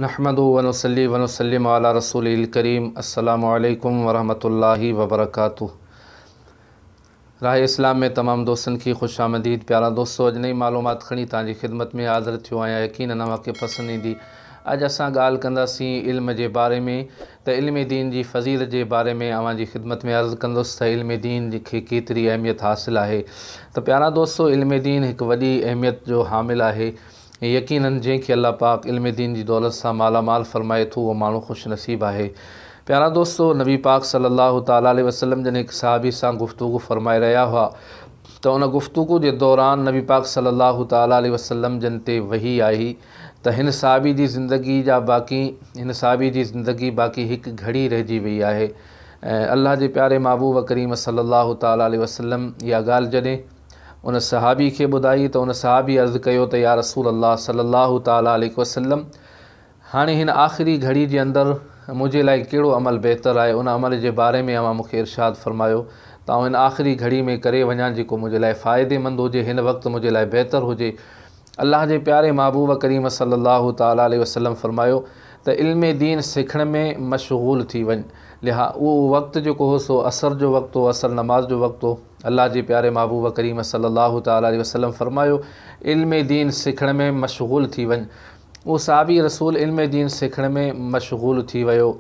نحمده ونصلي ونسلم علي رسوله الڪريم السلام عليڪم ورحمة الله وبرڪاته راهه اسلام ۾ تمام دوستن کي خوش آمديد پيارا دوستو اڄ نئي معلومات کڻي توهان جي خدمت ۾ حاضر ٿيو آهيان يقينن اوهان کي پسند ايندي اڄ اسان ڳالهه ڪنداسين علم جي باري ۾ ته علم دين جي فضيلت جي باري ۾ اوهان جي خدمت ۾ عرض ڪندس ته علم دين کي ڪيتري اهميت حاصل آهي ته پيارا دوستو علم دين هڪ وڏي اهميت جو حامل آهي ۽ يقينن جنهن کي الله پاڪ علم دين جي دولت سان مالا مال فرمائي ٿو اهو ماڻهو خوش نصيب آهي. پيارا دوستو! نبي پاڪ صلّي اللّٰه تعالٰي عليه وسلّم جڏهن هڪ صحابي سان گفتگو فرمائي رهيا هئا ته ان گفتگو جي دوران نبي پاڪ صلّي اللّٰه تعالٰي عليه وسلّم جن تي وحي آئي ته هن صحابي جي زندگي جا باقي هن صحابي جي زندگي باقي هڪ گهڙي رهجي وئي آهي ۽ الله جي پياري محبوب ڪريم صلّي اللّٰه تعالٰي عليه وسلّم اها ڳالهه جڏهن ان صحابي کي ٻڌائي ته ان صحابي عرض ڪيو ته يا رسول الله صلي الله تعالٰي عليه وسلم هاڻي هن آخري گهڙي جي اندر منهنجي لاء ڪهڙو عمل بهتر آهي ان عمل جي باري ۾ اوهان مون کي ارشاد فرمايو ته آئون هن آخري گهڙي ۾ ڪري وڃان جيڪو منهنجي لاء فائدي مند هجي هن وقت منهنجي لاء بهتر هجي الله جي پياري محبوب ڪريم صلّي الله تعالٰي عليه وسلّم فرمايو ته علم دين سکڻ ۾ مشغول ٿي وڃ لها اهو وقت جيڪو هو سو عصر جو وقت هو عصر نماز جو وقت هو الله جي پياري محبوب ڪريم صلّي الله تعالٰي عليه وسلّم فرمايو علم دين سکڻ ۾ مشغول ٿي وڃ اهو صحابي رسول علم دين سکڻ ۾ مشغول ٿي ويو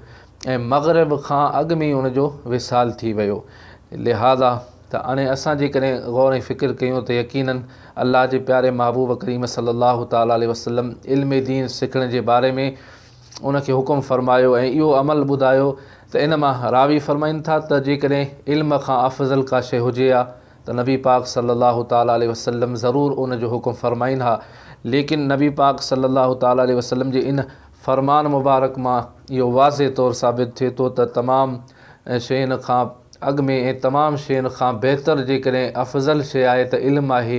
۽ مغرب کان اڳ ۾ ئي ان جو وصال ٿي ويو لهٰذا ته هاڻي اسان جيڪڏهن غور ۽ فڪر ڪيون ته يقيناً الله جي پياري محبوب ڪريم صلّي اللّٰه تعالٰي عليه وسلّم علم دين سکڻ جي باري ۾ ان کي حڪم فرمايو ۽ اهو عمل ٻڌايو ته ان مان راوي فرمائن ٿا ته جيڪڏهن علم کان افضل ڪا شيء هجي ها ته نبي پاڪ صلّي اللّٰه تعالٰي عليه وسلّم ضرور ان جو حڪم فرمائين ها، ليڪن نبي پاڪ صلّي اللّٰه تعالٰي عليه وسلّم جي ان فرمان مبارڪ مان اهو واضح طور ثابت ٿئي ٿو ته تمام شين کان اڳ ۾ ۽ تمام شين کان بهتر جيڪڏهن افضل شيء آهي ته علم آهي،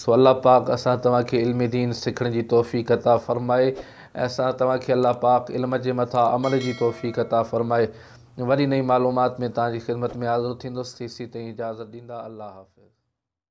سو الله پاڪ اسان توهان کي علم دين سکڻ جي توفيق عطا فرمائي ۽ اسان توهان کي الله پاڪ علم جي مٿان عمل جي توفيق عطا فرمائي. وري نئين معلومات ۾ توهان جي خدمت ۾ حاضر ٿيندس تيسين تائين اجازت ڏيندا الله حافظ.